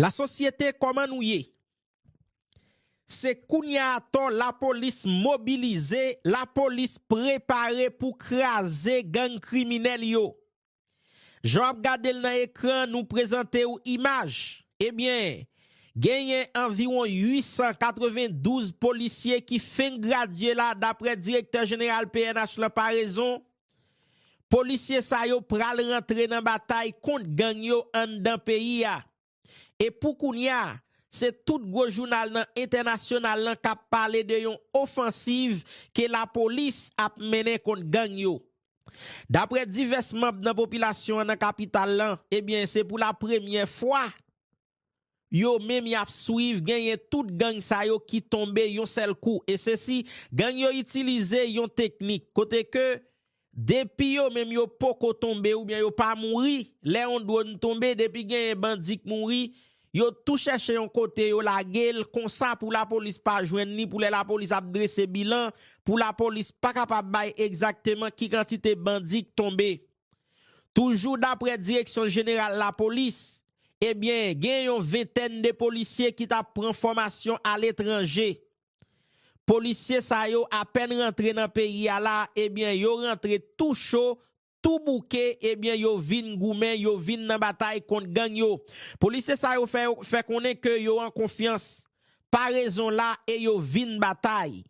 La sosyete koman nou ye? Se kounya atò la polis mobilize, la polis prepare pou kraze gang kriminèl yo. Jan w ap gade l nan ekran nou prezante w imaj, ebyen genyen anviwon 892 polisye ki fenk gradye la daprè direktè jeneral pnh lan Paraison Polisye sa yo pral rantre nan batay kont gang yo anndan peyi a. E pou kounya, se tout gwo jounal nan entènasyonal lan k ap pale de yon ofansiv ke lapolis ap mennen kont gang yo. Daprè divès manb nan popilasyon an nan kapital lan, ebyen se pou la premyè fwa, yo menm yap swiv genyen tout gang sa yo ki tonbe yon sèl kou e sesi gang yo itilize yon teknik kote ke depi yo menm yo poko tonbe oubyen yo pa mouri lè yon dwonn tonbe depi genyen bandi k mouri yo tou chèche yon kote yo lagel konsa pou lapolis pa jwenn li pou lè lapolis ap drese bilan pou lapolis pa kapab bay egzakteman ki kantite bandi k tonbe toujou daprè direksyon jeneral lapolis. Ebyen gen yon ventèn de polisye ki tap pran fòmasyon aletranje. Polisye sa yo apèn rantre nan peyi a la ebyen yo rantre tou cho, tou bouke ebyen yo vin goumen, yo vin nan batay kont gang yo. Polisye sa yo fè konnen ke yo an konfyans. Parezon la e yo vin batay.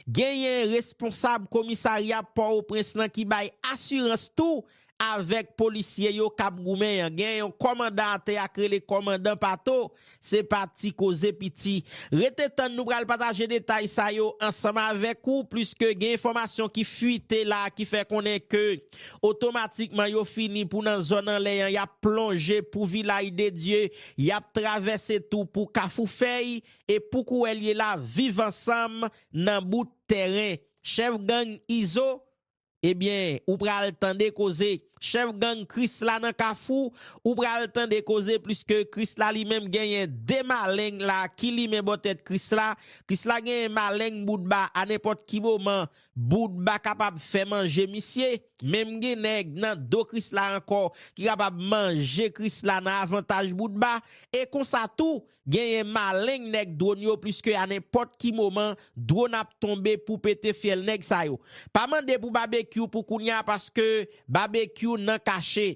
Genyen responsab komisarya Pòwoprens lan ki bay asirans tou avèk polisye yo k ap goumen an. Gen yon kòmandan atè a k rele kòmandan Pato, se pa ti koze piti. Rete tann nou pral pataje detay sa yo ansanm avèk ou pliske gen enfòmasyon ki fuite la ki fè konnen ke otomatikman yo fini pou nan zòn anlè an y ap plonje pou Vilay de Dye, y ap travèse tou pou Kafou Fèy e pou kouwè l ye la viv ansanm nan bout tèren chèf gang Izo ebyen ou pral tande koze chèf gang Krisla nan kafou ou pral tande koze pliske Krisla li menm genyen 2 maleng la ki limen bò tèt Krisla Krisla genyen maleng Boutba a nenpòt ki moman Boutba kapab fè manje misye menm gen nèg nan do Krisla ankò ki kapab manje Krisla nan avantaj Boutba e konsa tou Genyen maleng nèg dwon yo pliske a nenpòt ki moman dwon ap tonbe pou pete fyèl nèg sa yo. Pa mande pou Babekyou pou kounya paske Babekyou nan kache.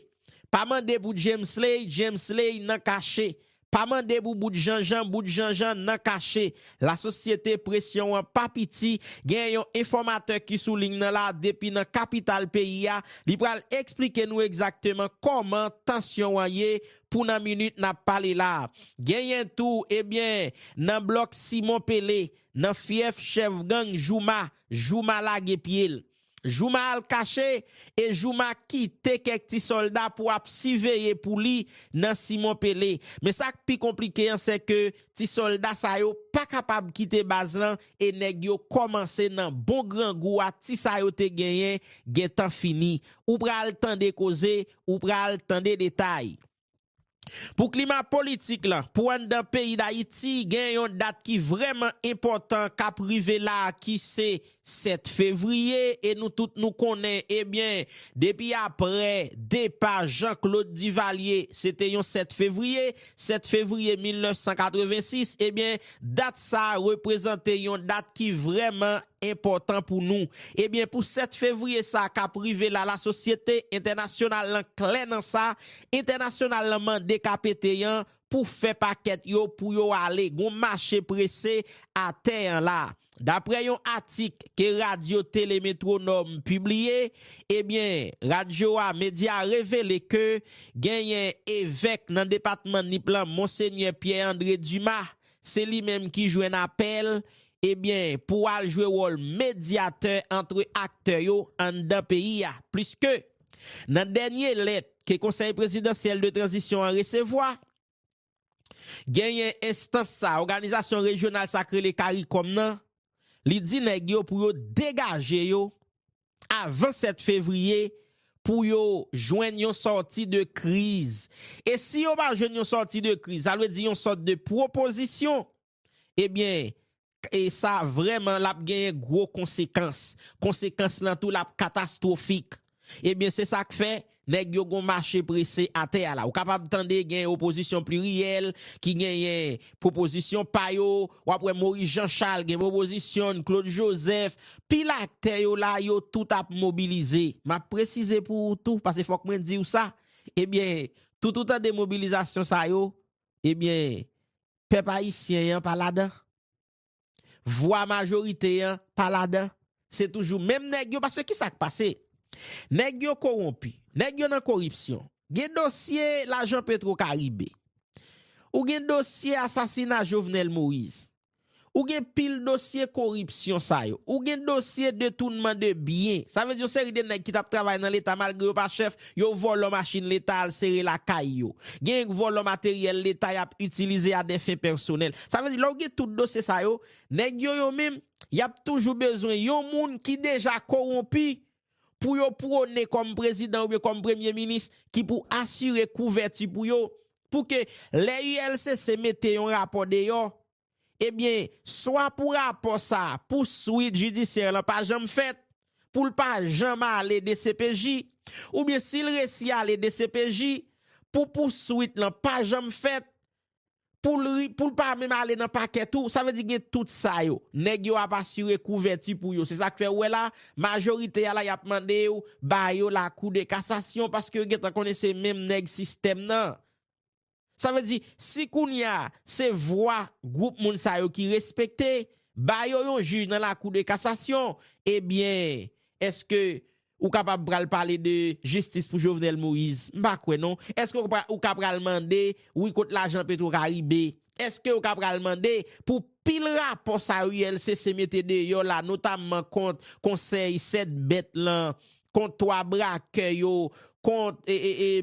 Pa mande pou Djemsley, Djemsley nan kache. Pa mande pou Bout Janjan, Bout Janjan nan kache. Lasosyete presyon an pa piti, genyen yon enfòmatè ki sou ling nan la depi nan kapital peyi a, li pral eksplike nou egzakteman kòman tansyon an ye pou nan minit n ap pale la. Genyen tou, ebyen, nan blòk Simon Pele, nan fyèf chèf gang Jouma, Jouma lage pye l. Jouma al kache e Jouma kite kèk ti sòlda pou ap siveye pou li nan Simon Pele. Men sa k pi konplike an se ke ti sòlda sa yo pa kapab kite baz lan e nèg yo kòmanse nan bon grangou a ti sa yo te genyen gentan fini. Ou pral tande koze ou pral tande detay. Pou klima politik lan, pou anndan peyi Dayiti gen yon dat ki vrèman enpòtan kap rive la ki se 7 fevriye e nou tout nou konnen ebyen depi aprè depa Jean Claude Duvalier se te yon 7 fevriye, 7 fevriye 1986 ebyen dat sa reprezante yon dat ki vrèman enpòtan pou nou. Ebyen pou 7 fevriye sa a kap rive la lasosyete entènasyonal lan klè nan sa, entènasyonal lan mande KPT an pou fè pakèt yo pou yo ale gon mache prese atè an la. Daprè yon atik ke radyo tele Metronòm pibliye, ebyen radyo a medya a revele ke genyen evèk nan depatman Nip lan Monsenyè Pierre André Dumas se li menm ki jwenn apèl ebyen pou al jwe wòl medyatè antre aktè yo anndan peyi a, pliske nan dènye lèt ke Konsèy Prezidansyèl de Tranzisyon an resevwa, genyen enstans sa, òganizasyon rejyonal sa k rele caricom nan, li di nèg yo pou yo degaje yo avan 7 fevriye pou yo jwenn yon sòti de kriz. E si yo pa jwenn yon sòti de kriz, sa vle di yon sòt de pwopozisyon Ebyen e sa vrèman lap genyen gwo konsekans, konsekans lan tou lap katastwofik. Ebyen se sak fè nèg yo gon mache prese atè a la. Ou kapab tande gen opozisyon pliryèl ki genyen pwopozisyon pa yo, wap wè Moyiz Janchal gen pwopozisyon n, Klod Jozèf, pil aktè yo la yo tout ap mobilize. Map presize pou ou tou pase fòk mwen diw sa, ebyen tout ou tande mobilizasyon sa yo, ebyen pèp ayisyen an pa ladan vwa majorite an pa ladan se toujou menm nèg yo paske kisa k pase nèg yo kowonpi nèg yo nan koripsyon gen dosye lajan petro karibe ou gen dosye asasina jovenel moïse ou gen pil dosye koripsyon sa yo ou gen dosye detounman de byen sa vle di yon seri de nèg ki tap travay nan leta malgre yo pa chèf Yo vòlò machin leta al sere lakay yo. Genyen k vòlò materyèl leta y ap itilize a dè fen pèsonèl. Sa vle di lè w gen tout dosye sa yo, nèg yo yo menm, y ap toujou bezwen yon moun ki deja kowonpi pou yo pwone kòm prezidan oubyen kòm premye minis ki pou asire kouvèti pou yo pou ke lè ULCC mete yon rapò deyò, Ebyen, swa pou rapò sa, pou swit jidisyè lan pa janm fèt, pou l pa janm ale dcpj, oubyen si l resi ale dcpj, pou pou swit lan pa janm fèt, pou l ri, pou l pa menm ale nan pakè tou, sa vle di gen tout sa yo. Nèg yo ap asire kouvèti pou yo. Se sa k fè ou wè la, majorite a la y ap mande yo ba yo lakou de kasasyon paske yo gen tan konnen se menm nèg sistèm nan. Sa vle di, si kounye a, se vwa gwoup moun sa yo ki respekte, ba yo yon jij nan lakou de kasasyon, ebyen, eske ou kapab pral pale de jistis pou Jovenel Moïse? M pa kwè non. Eske ou ka pral mande, wi kot lajan Petro Caribe? Eske ou ka pral mande pou pil rapò sa yo ULCC mete deyò la, notamman kont konsèy 7 bèt lan, kont 3 brakè yo, kont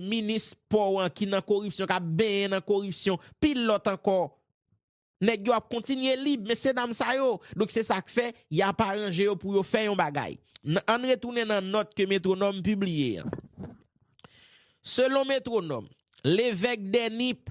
minis pò an ki nan koripsyon, k ap benyen nan koripsyon, pil lòt ankò. Nèg yo ap kontinye lib, mesye dam sa yo. Donk se sa k fè, y ap aranje yo pou yo fè yon bagay. An n retounen nan nòt ke Métronome pibliye an. Selon Métronome, Levèque Denip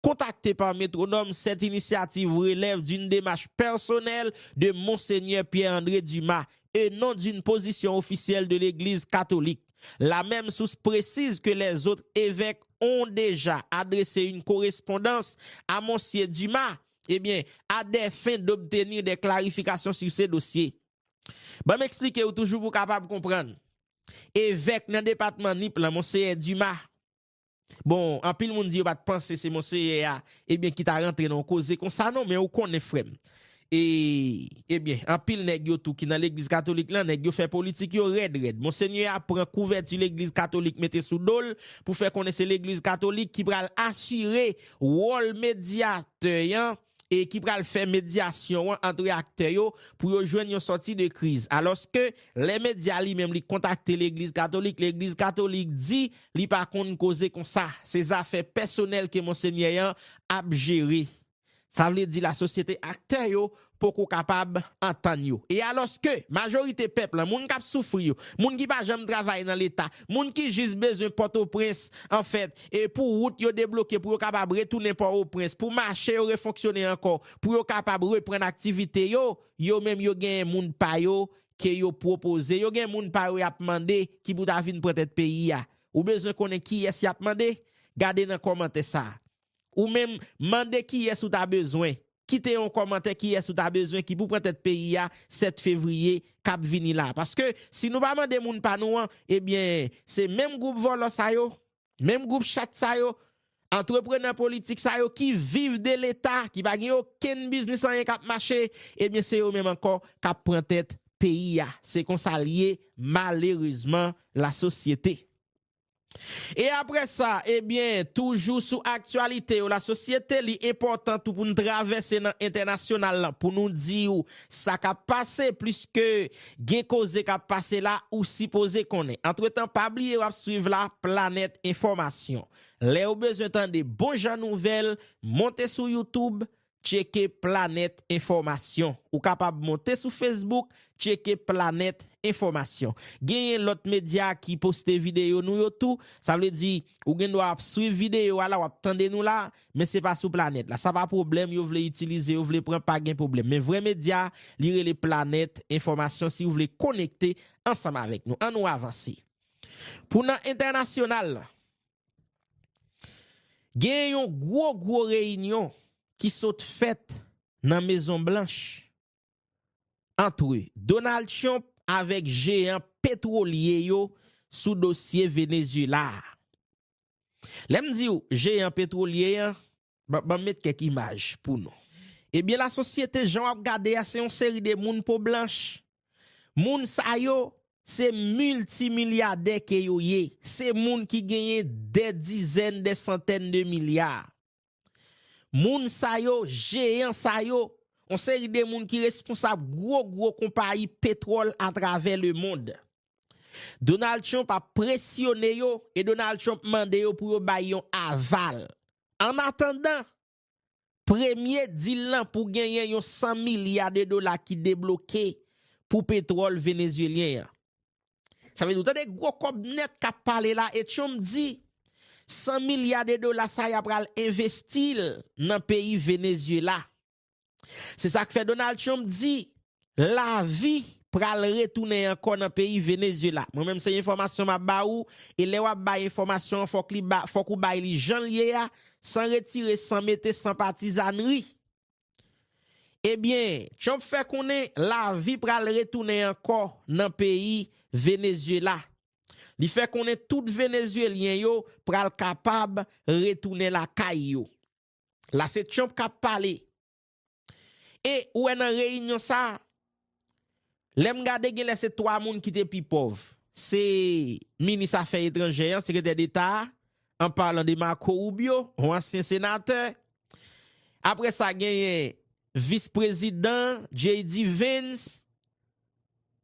Kontakte pa Métronome, cette initiative relève d'une démarche personnelle de Monseigneur Pierre André Dumas et non d'une position officielle de l'Eglise Catholique. La même source précise que les autres évèques ont déjà adressé une correspondance à Monsier Dumas, eh bien, à des fins d'obtenir des clarifications sur ce dossier. Ban m eksplike ou toujou pou w kapab konprann. Evèk nan depatman Nip lan, Monseyè Dumas, Bon, anpil moun di yo pa t panse se Monseyè a, ebyen ki ta rantre nan yon koze konsa non, men ou konnen frè m. E, ebyen, anpil nèg yo tou ki nan Legliz Katolik lan, nèg yo fè politik yo rèd rèd. Monsenyè a pran kouvèti Legliz Katolik mete sou do l pou fè konnen se Legliz Katolik ki pral asire wòl medyatè an, e ki pral fè medyasyon an antre aktè yo pou yo jwenn yon sòti de kriz. Alòske, lè medya li menm li kontakte legliz katolik, legliz katolik di li pa konn koze konsa, se zafè pèsonèl ke monsenyè an ap jere. Sa vle di lasosyete aktè yo poko kapab antann yo. E alòske, majorite pèp lan, moun k ap soufri yo, moun ki pa janm travay nan leta, moun ki jis bezwen Pòtoprens, anfèt, e pou wout yo debloke pou yo kapab retounen Pò-o-Prens, pou mache yo refonksyone ankò, pou yo kapab reprann aktivite yo, yo menm yo genyen moun pa yo ke yo pwopoze, yo gen moun pa yo y ap mande ki pou ta vin pran tèt peyi a. Ou bezwen konnen kiyès y ap mande? Gade nan kòmantè sa a. Ou menm, mande kiyès ou ta bezwen kite yon kòmantè kiyès ou ta bezwen ki pou pran tèt peyi a 7 fevriye kap vini la paske si nou pa mande moun pa nou an ebyen se menm gwoup vòlò sa yo menm gwoup chat sa yo antreprenè politik sa yo ki viv de leta ki pa gen okenn biznis anyen kap mache ebyen se yo menm ankò kap pran tèt peyi a se konsa l ye malerezman lasosyete. E aprè sa, ebyen, toujou sou aktyalite yo lasosyete, li enpòtan tou pou n travèse nan entènasyonal lan pou nou di ou sa k ap pase, pliske gen koze k ap pase la ou sipoze konnen. Antretan, pa bliye w ap swiv la planèt enfòmasyon. Lè ou bezwen tande bon jan nouvèl, monte sou youtube, Tcheke Planèt Enfòmasyon Ou kapab monte sou Facebook Tcheke Planèt Enfòmasyon. Genyen lòt medya ki poste videyo nou yo tou. Sa vle di, ou gen dwa ap swiv videyo a la, w ap tande nou la, men se pa sou planèt la. Sa pa pwoblèm, yo vle itilize, yo vle pran, pa gen pwoblèm. Men vrè medya a, li rele Planèt Enfòmasyon si ou vle konekte ansanm avèk nou. An nou avanse. Pou nan entènasyonal lan. Genyen yon gwo gwo reyinyon ki sot fèt nan Mezon Blanch antre Donald Trump avèk jeyan petwolye yo sou dosye Venezyela a. Lè m di w jeyan petwolye an, Banm met kèk imaj pou nou. Ebyen la sosyete jan wap gade a se yon seri de moun po blanch. Moun sa yo se milti milyadè ke yo ye. Se moun ki genyen dè dizèn, dè santèn de milya. Moun sa yo, jeyan sa yo, yon seri de moun ki responsab gwo gwo konpayi petwòl atravè le mond. Donald Trump ap presyone yo e Donald Trump mande yo pou yo bay yon aval. An atandan, premye dil lan pou genyen yon 100 milya de dola ki debloke pou petwòl Venezyelyen an. Sa vle di ou tande gwo kòb nèt kap pale la e Trump di 100 milya de dola sa ya pral envesti l nan peyi Venezyela. Se sa k fè Donald Trump di lavi pral retounen ankò nan peyi Venezyela. Mwen menm se enfòmasyon m ap ba ou, e lè w ap bay enfòmasyon an fòk ou bay li jan l ye a, san retire, san mete, san patizannri. Ebyen, Trump fè konnen lavi pral retounen ankò nan peyi Venezyela. Li fè konnen tout Venezyelyen yo pral kapab retounen lakay yo. La se Trump kap pale. E ou wè nan reyinyon sa, lè m gade gen lè se 3 moun ki te pi pòv. Se minis afè etranjè an, sekretè deta a, an palan de Marco Rubio, yon ansyen senatè. Apre sa genyen vis prezidan, JD Vance.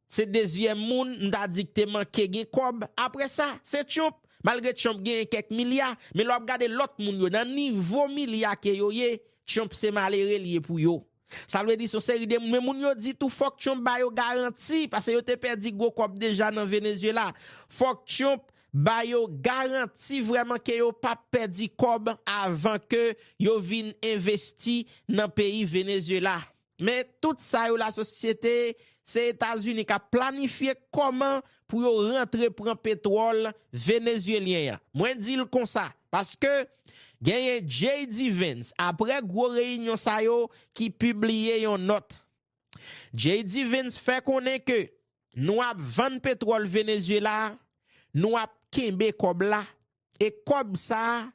Se dezyèm moun m ta di k te manke gen kòb apre sa, se Tyonp. Malgre Tyonp genyen kèk milya, men lè w ap gade lòt moun yo nan nivo milya ke yo ye, Tyonp se malere l ye pou yo. Sa vle di s on seri de moun, men moun yo di tou fòk Tyonp ba yo garanti, pase yo te pèdi gwo kòb deja nan Venezyela. Fòk Tyonp ba yo garanti vrèman ke yo pa p pèdi kòb avan ke yo vin envesti nan peyi Venezyela. Men tout sa yo lasosyete se etazini kap planifye koman pou yo rantre pran petwòl venezyelyen an mwen dil konsa paske genyen JD Vance aprè gwo reyinyon sa yo ki pibliye yon nòt JD Vance fè konnen ke Nou ap vann petwòl Venezuela, nou ap kenbe kòb la, e kòb sa,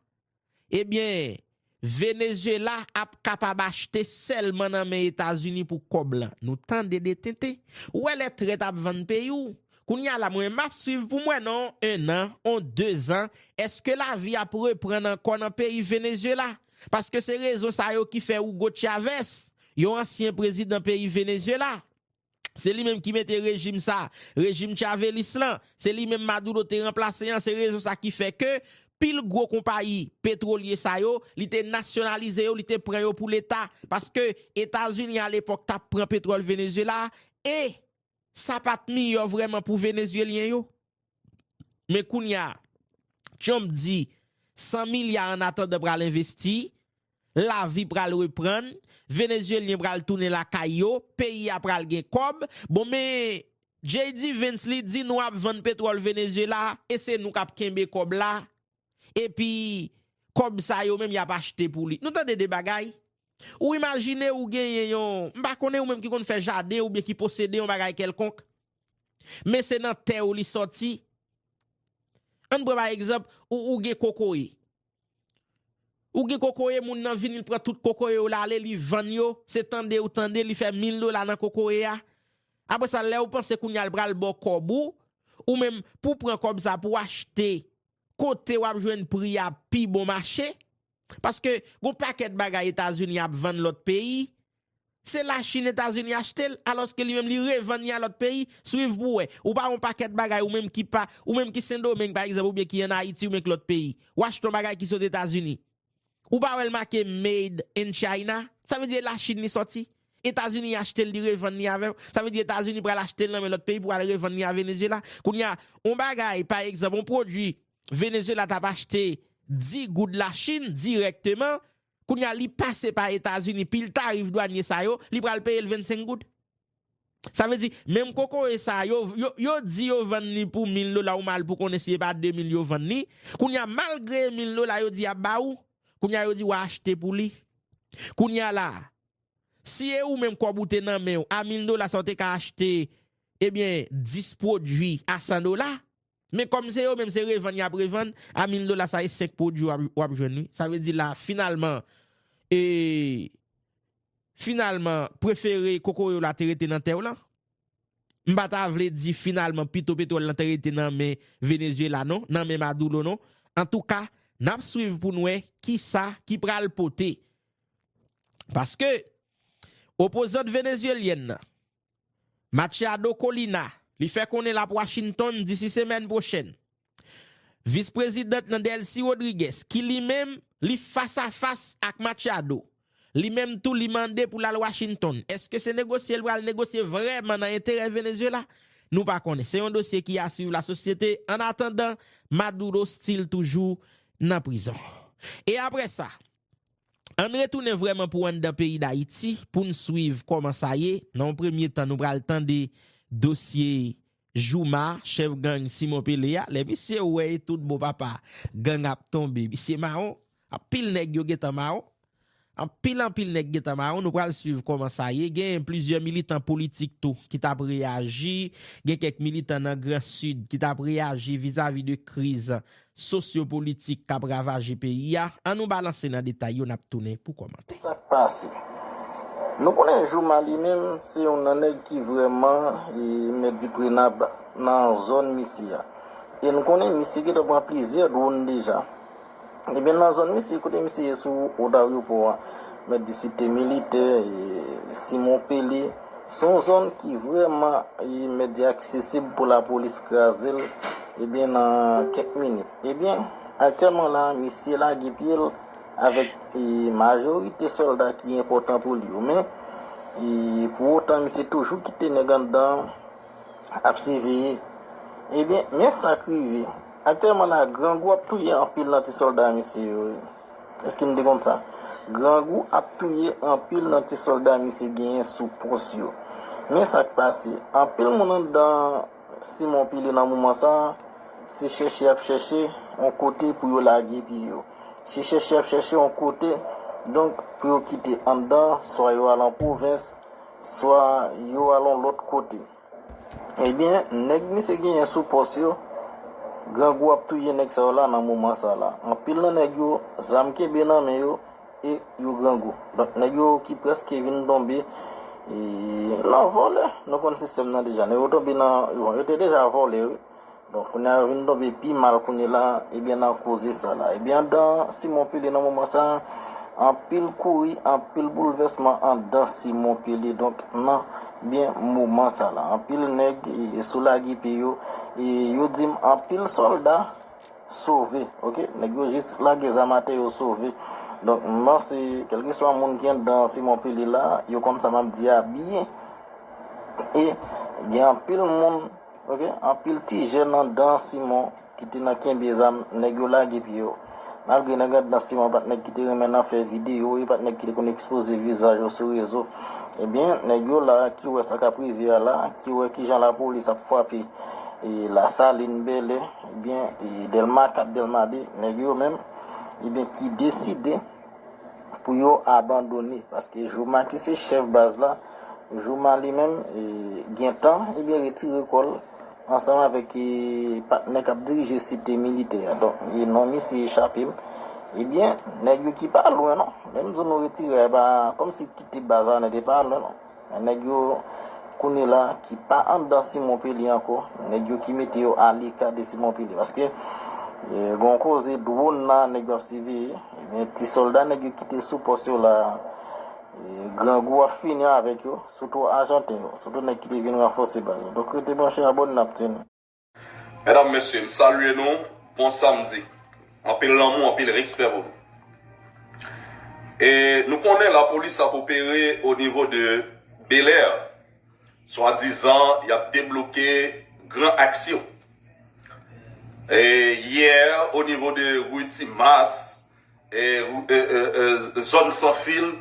ebyen, Venezuela ap kapab achte sèlman nan men Etazini pou kòb lan. Nou tande de tenten. Ou wè lè trèt ap vann peyi w? Kounye a la, mwen m ap swiv pou m wè nan on 1 an, on 2 zan, èske lavi ap reprann ankò nan peyi Venezuela? Paske se rezon sa yo ki fè Hugo Chavez, yon ansyen prezidan peyi Venezuela, Se li menm ki mete rejim sa, rejim chavelis lan, se li menm Maduro te ranplase an, se rezon sa ki fè ke pil gwo konpayi petwolye sa yo, li te nasyonalize yo, li te pran yo pou leta, paske Etazini a lepòk tap pran petwòl Venezyela, e sa pat miyò vrèman pou Venezyelyen yo. Men kounya Trump di 100 milya an atandan pral envesti, lavi pral reprann, Venezyelyen pral tounen lakay yo, peyi a pral gen kòb, bon men JD Vance li di nou ap vann petwòl Venezyela e se nou kap kenbe kòb la epi kòb sa yo menm yap achte pou li. Nou tande de bagay? Ou imajine ou genyen yon, m pa konnen ou menm ki konn fè jaden oubyen ki posede yon bagay kèlkonk, Men se nan tè ou li sòti. Ann pran pa egzanp, ou gen kokoye. Ou gen kokoye, moun nan vini l pran tout kokoye ou la ale li vann yo, se tande ou tande li fè 1000 dola nan kokoye a. Apre sa lè ou panse kounye a l pral ba w kòb ou, ou menm pou pran kòb sa pou achte kote w ap jwenn pri a pi bon mache, Paske gon pakèt bagay Etazini ap vann lòt peyi, se la Chine Etazini achte l, alòske li menm li revann li a lòt peyi, swiv pou wè. Ou pa wè yon pakèt bagay ou menm ki pa, ou menm ki Sendomeng pa egzanp oubyen ki an Ayiti oubyen ki lòt peyi, ou achte yon bagay ki sot Etazini, ou pa wè l make made in China, sa vle di e la Chine li sòti? Etazini achte l li revann li avè w, sa vle di Etazini pral achte l nan men lòt peyi pou al revann li a Venezyela. Kounye a, yon bagay pa egzanp yon pwodui Venezuela tap achte 10 goud la chine direkteman kounya li pase pa etazini pil tarif dwanye sa yo li pral peyel 25 goud sa vle di menm kokoye sa yo yo di yo vann li pou 1000 dola ou mal pou konnen si epa 2000 yo vann li kounya malgre e 1000 dola yo di yap ba ou kounya yo di wa achte pou li kounya la si e ou menm kob ou te nan menw a 1000 dola sa ou te ka achte ebyen 10 pwodwi a 100 dola Men kòm se yo menm se revann yap revann a 1000 dola sa e 5 pwodwi wap jwenn wi sa vle di la finalman e finalman prefere kokoye w la te rete nan tè w lan m pa ta vle di finalman pito petwòl lan te rete nan men Venezyela non nan men Madulo non antouka nap swiv pou n wè kisa ki pral pote paske opozant Venezyelyèn nan Machado Colina, li fè konnen l ap Washington disi semèn pwochèn. Vis prezidant nan Delcy Rodriguez, ki li menm, li fas a fas ak Machado, li menm tou li mande pou l al Washington. Eske se negosye l pral negosye vrèman nan enterè Venezuela? Nou pa konnen. Se yon dosye ki a swiv lasosyete. An atandan, Maduro stil toujou nan prizon. E aprè sa? Ann retounen vrèman pou anndan peyi Dayiti pou n swiv kòman sa ye, nan yon premye tan nou pral tande dosye Jooma, chèf gang Simon Pele a, lè misye wè e tout bon papa gang ap tonbe, misye mawon, anpil nèg yo gentan mawon, anpil anpil nèg gentan mawon, nou pral swiv kòman sa ye, gen plizyè militan politik tou ki tap reyaji, gen kèk militan nan gran sid ki tap reyaji vizavi de kriz sosyopolitik k ap ravaje peyi a, an nou balanse nan detay yo n ap tounen pou kòmante. Sa k pase? Nou konnen Jooma li menm se youn nan nèg ki vrèman mèt di prenab nan zòn misye a. E nou konnen misye gentan pran plizyè dwonn deja. Ebyen nan zòn misye, kote misye ye sou wout aryopò a, mèt di si te militè, Simon Pele, Se yon zòn ki vrèman imedya aksesib pou lapolis kraze l ebyen nan kèk minit. Ebyen, aktyèlman la, misye lage pye l avèk majorite sòlda ki enpòtan pou li yo. Men, pou otan misye toujou kite nèg anndan ap siveye. Ebyen, men sa k rive. Aktyèlman la, grangou ap touye anpil nan ti sòlda misye yo. Eske nou te konn sa? Grangou ap touye anpil nan ti sòlda misye genyen sou pòs yo. Men sa k pase, anpil moun anndan Simon Pile nan moman sa a, se chèche y ap chèche yon kote pou yo lage pye yo. Se chèche y ap chèche yon kote donk pou yo kite anndan, swa yo al an pwovens, swa yo al yon lòt kote. Ebyen nèg misye genyen sou pòs yo, grangou ap touye nèg sa yo la nan moman sa la. Anpil nan nèg yo, zam kenbe nan men yo e yo grangou. Donk nèg yo ki prèske vin tonbe nan vòlè. Nou konn sistèm nan deja. Nèg yo tonbe nan, yo te deja vòlè wi. Bon, kounya yo vin tonbe pi mal kounye la, ebyen nan koze sa la. Ebyen andan Simon Pele nan moman sa, anpil kouri, anpil boulvèsman andan Simon Pele donk nan byen moman sa la. Anpil nèg sou lage pye yo, e yo di m anpil sòlda sove, ok, nèg yo jis lage zam atè yo sove. Donk m panse kèlkeswa moun ki andan Simon Pele la, yo konn sa m ap di a byen. E gen anpil moun. Ok anpil ti jèn andan Simon ki te nan kenbe zam nèg yo lage pye yo malgre nèg andan Simon pat nèg ki te renmen nan fè video yo pat nèg ki te konn ekspoze vizaj yo sou rezo ebyen nèg yo la ki wè sa kap rive a la ki wè kijan lapolis ap fwape lasalin bèlè ebyen dèlma 4 dèlma 2 nèg yo menm ebyen ki deside pou yo abandone paske Jooma ki se chèf baz la Jooma li menm gentan ebyen retire kò l ansanm avèk patnè k ap dirije site militè a donk non misye echape m ebyen nèg yo ki pa lwen non lè m di w nou retire a e pa kòmsi kite baz la nèg yo pa lwen non. Men nèg yo kounye la ki pa anndan Simon Pele ankò, nèg yo ki mete yo aleka de Simon Pele. Paske gen yon koze dwon la nèg yo ap siveye, ebyen ti sòlda nèg yo ki te sou pòs yo la grangou ap fini avèk yo, sitou ajanten yo, sitou nèg ki te vin ranfòse baz yo. Donk rete branche Abòne n ap teni. Medam mesye m salye nou bon samdi anpil lanmou anpil respè pou nou e nou konnen lapolis ap opere o nivo de belèr swa dizan yap debloke gran aks yo e yè o nivo de rue timas Zòn san fil,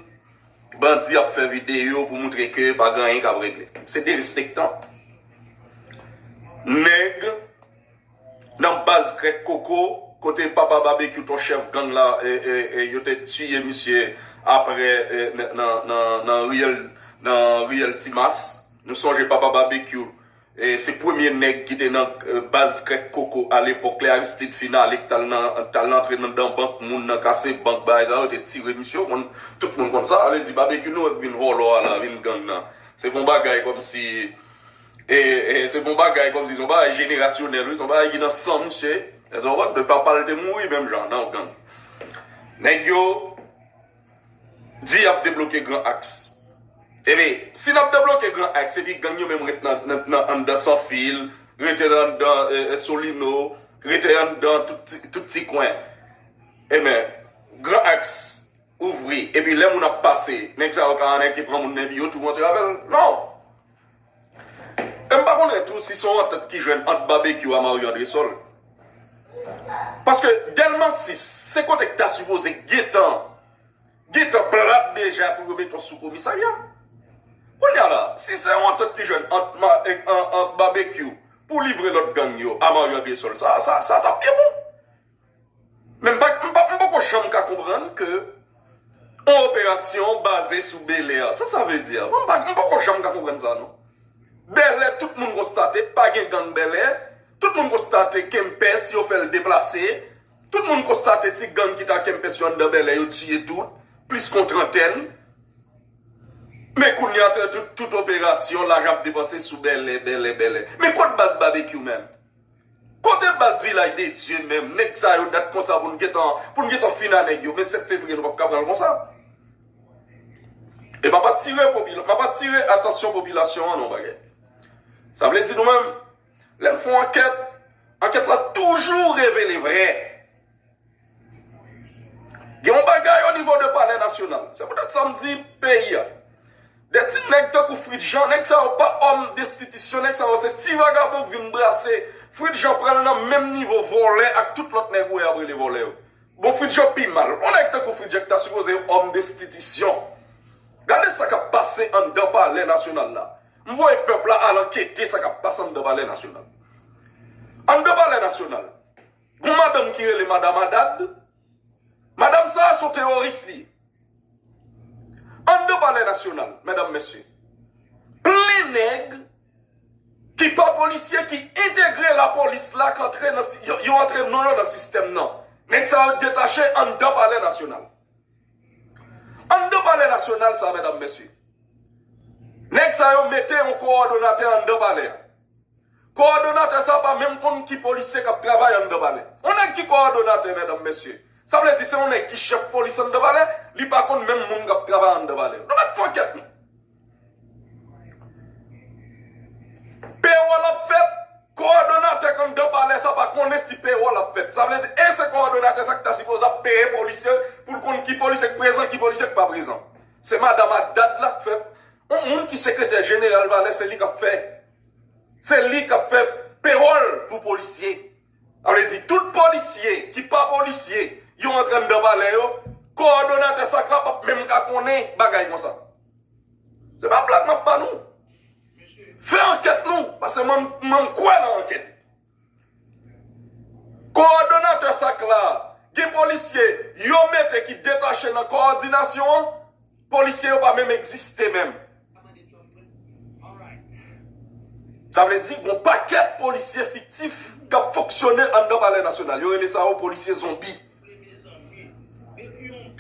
bandi ap fè videyo pou moutre ke pa gen anyen k ap regle. Se derespektan. Nèg nan baz krèk koko, kote papa Babekyou ton chèf gang la, yo te tiye misye aprè nan riyèl Timas. Nou sonje papa Babekyou. Se premye nèg ki te nan baz krèk koko a lepòk lè Aristide fin ale ki t al antre nan dan bank moun nan kase bank bagay sa yo te tire misye ou konn tout moun konn sa sa vle di Babekyou nou wè k vin vòlò a la vin gang nan se p on bagay kòmsi se p on bagay kòmsi se yon bagay jenerasyonèl wi se yon bagay ki nan san misye èske w konprann papal te mouri menm jan nan gang nèg yo. Di yap debloke gran aks. Ebyn si nap debloke gran aks epi gang yo menm ret nan anndan san fil, rete nan anndan solino, rete anndan tout ti kwen ebyn gran aks ouvri epi lè moun ap pase nèg sa yo ka anèke pran moun nan epi yo tou rantre avèl non. E m pa konnen tou si se yon antant ki jwenn ant Babekyou a Mario Andresol. Paske Dèlma 6 se kote ki ta sipoze gentan gentan plat deja pou yo mete yon soukomisarya. Kounya la, si se yon antant ki jwenn ant Babekyou pou livre lòt gang yo a Mario Andresol, sa ta pi bon. Men m poko janm ka konprann ke yon operasyon baze sou Belair. Sa sa vle di a? M poko janm ka konprann sa non. Bèlè tout moun konstate pa gen gang Bèlè, tout moun konstate Kempès yo fè l deplase, tout moun konstate ti gang ki ta Kempès yo anndan Bèlè yo tiye tout, plis kon trantèn. Men kounya tout operasyon laj ap depanse sou Bèlè, Bèlè, Bèlè. Men kot baz Babekyou menm? Kote baz vilaj de Dieu menm nèg sa yo dat konsa pou n gentan pou n gentan fin a nèg yo men 7 fevrier nou pap ka pranl konsa e map atire popilasyon map atire atansyon popilasyon an yon bagay sa vle di nou menm lè n fon ankèt ankèt la toujou revele vrè. Gen yon bagay o nivo de palè nasyonal. Se poutèt sa m di peyi a. De ti nèg tankou Fritz Jean, nèg sa yo pa òm destitisyon, nèg sa yo se ti vagabon k vin brase. Fritz Jean pran nan menm nivo vòlè ak tout lòt nèg ou wè y ap rele vòlè yo. Bon Fritz Jean pi mal. Yon nèg tankou Fritz Jean ki ta sipoze yon òm destitisyon. Gade sa k ap pase anndan palè nasyonal la. M voye pèp la al ankete sa k ap pase anndan palè nasyonal. Anndan palè nasyonal. Gon madanm ki rele madam Adad, madam sa a son teworis li ye. Anndan palè nasyonal, medam mesye, plen nèg ki pa polisye ki entegre lapolis la k antre nan, yo antre non yo nan sistèm nan. Nèg sa yo detache anndan palè nasyonal. Anndan palè nasyonal sa a medam mesye, nèg sa yo mete yon kowòdonatè anndan palè a. Kowòdonatè sa pa menm konn ki polisye kap travay anndan palè. Yon nèg ki kowòdonatè medam mesye, sa vle di se yon nèg ki chèf polis anndan palè, li pa konn menm moun kap travay anndan palè. Nou mèt fon kèt nou. Pewòl ap fèt, kowòdonatè anndan palè sa pa konnen si pewòl ap fèt. Sa vle di e se kowòdonatè sa ki ta sipoze ap peye polisye poul konn ki polisye k prezan, ki polisye k pa prezan. Se madam ak dad la k fè Yon moun ki sekretè jeneral valè se li kap fè se li kap fè perol pou polisye sa vle di tout polisye ki pa polisye yo antre anndan valè yo kowòdonatè sak la pap menm ka konnen bagay konsa se pa blag map ba nou fè ankèt nou pase mwen kwè nan ankèt. Kowòdonatè sak la, gen polisye yo mete ki detache nan kowòdinasyon an, polisye yo pa menm egziste menm. Sa vle di gon pakèt polisye fiktif k ap fonksyone anndan palè nasyonal. Yo rele sa yo polisye zonbi.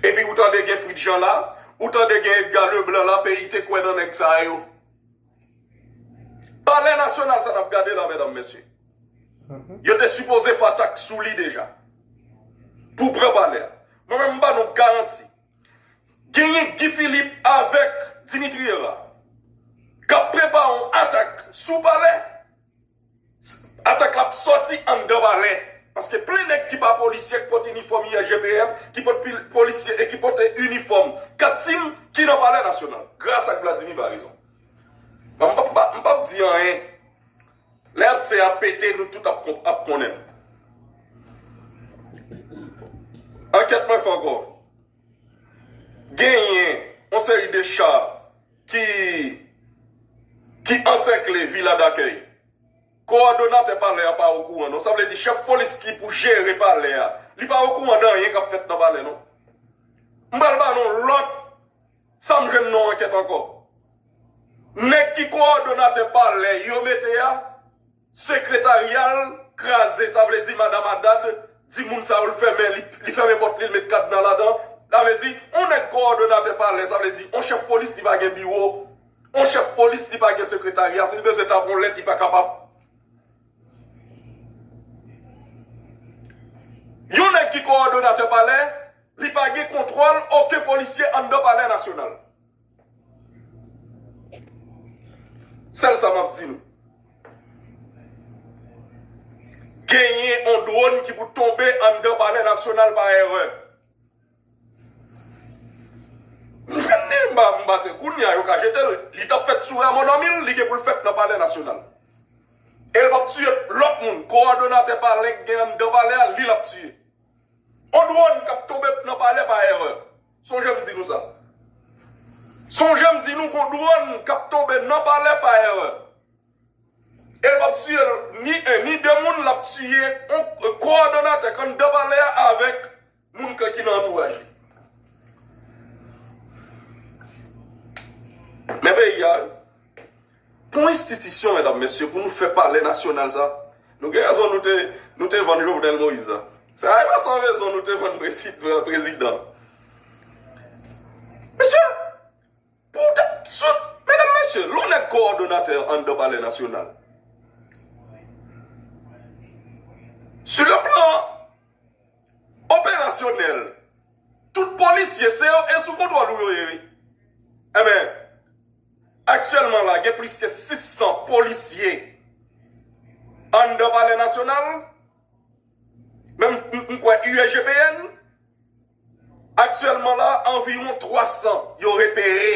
Epi ou tande gen Fritjan la, ou tande gen Edga Leblan la, peyi te kwè nan nèg sa yo. Palè nasyonal sa nap gade la medam mesye. Yo te sipoze fè atak sou li deja. Pou pran palè a. Mwen menm m ba nou garanti. Genyen Guy Philippe avek Dimitri Herard. Kap prepare yon atak sou palè. Atak la ap sòti anndan Bale, paske plen nèg ki pa polisye ki pot inifòm IRGPM, ki pot polisye e ki pot inifòm kat Tim ki nan Palè Nasyonal. Gras ak Vladimir Baraison. M pap di anyen. Lè abse a pete nou tout ap konnen. Ankèt mwen fè ankò. Genyen yon seri de cha. ki ki ansèkle Vila Dakèy. Kowòdonatè palè a pa okouran non. Sa vle di chèf polis ki pou jere palè a, li pa okouran de anyen k ap fèt nan palè non. M pral ba nou lòt sa m jwenn nan ankèt ankò. Nèg ki kowòdonatè palè yo mete a. Sekretarial kraze sa vle di madam adad di moun sa yo l fèmen li fèmen pòt li l met kadna ladan sa vle di on nèg kowòdonatè palè sa vle di on chèf polis li pa gen biwo on chèf polis li pa gen sekretarya si l bezwen tap on lèt li pa kapab yon nèg ki kowòdonatè palè li pa gen kontwòl oken polisye anndan palè nasyonal Sèl sa map di nou. Genyen on drone ki pou tonbe anndan palè nasyonal pa erè. Kounye a yo ka jete l. Li tap fèt sou Raymond Anmil, li gen pou l fèt nan palè nasyonal. E l pap tiye lòt moun. Kowòdonatè palè gen anndan palè a, li lap tiye. On drone kap tonbe nan palè pa erè. Sonje m di nou sa. Sonje m di nou gon dwòn k ap tonbe nan palè pa erè. E l p ap tiye ni 1 ni 2 moun, l ap tiye kowòdonatè k anndan palè a avèk moun k ki nan antouraj li. Men peyi a wi. Pou enstitisyon medam mesye pou nou fè palè nasyonal sa nou gen rezon nou te nou te vann jovenel moïse a sa e pa san rezon nou te vann prezidan mesye pou ta sou medam mesye lon nèg kowòdonatè anndan palè nasyonal su le plan operasyonèl tout polisye se yo e sou kontwòl ou yo ye wi enben. Aktyèlman la gen plis ke 600 polisye anndan palè nasyonal, men m kwè USGPN aktyèlman la anviwon 300 yo repere,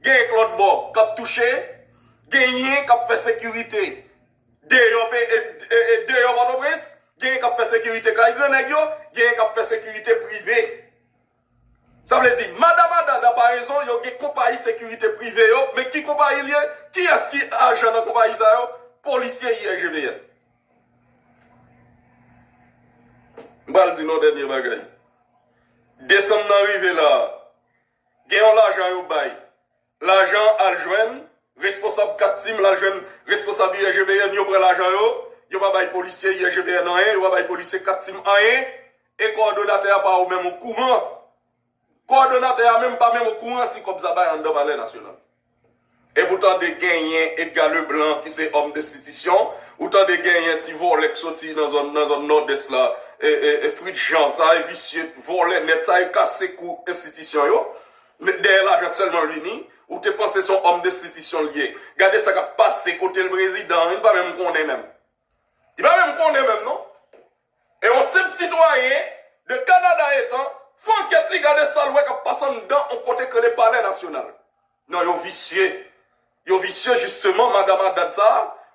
gen k lòt bò k ap touche, genyen k ap fè sekirite deyò Pòtoprens, genyen k ap fè sekirite kay gran nèg yo, genyen k ap fè sekirite prive. Sa vle di, madan madan nan parezon yo gen konpayi sekirite prive yo, men ki konpayi l ye? Kiyès ki ajan nan konpayi sa yo? Polisye IRGVN. M pral di nou yon dènye bagay. Desanm nan rive la a, gen yon lajan yo bay. Lajan an al jwenn responsab 4 team lal jwenn responsab ISGBN yo pran lajan yo, yo pa bay polisye ISGBN anyen yo pa bay polisye 4 team anyen e kòdonatè a pa ou menm o kouran kòdonatè a menm pa menm o kouran si kòb sa bay anndan palè nasyonal e pou tande genyen Edga Leblan ki se òm destitisyon ou tande genyen ti vòlè k soti nan zòn nan zòn nòdès la e e e Fritz Jean sa e visye vòlè nèt sa e kase kou enstitisyon yo Met dèyè lajan selman Rini, ou te panse son homme d'institution li ye. Gade sa kap pase kotel prezidan an li pa menm konnen menm. Li pa menm konnen menm non. E on senp sitwayen de Canada etan, fè ankèt li gade sal wè kap pase anndan on kote k rele palè nasyonal. Non yo visye. Yo visye jisteman madam Haddad sa,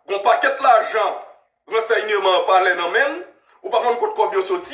gon pakèt lajan ransèyneman palè nan menl, ou pa konn kot kòb yo soti.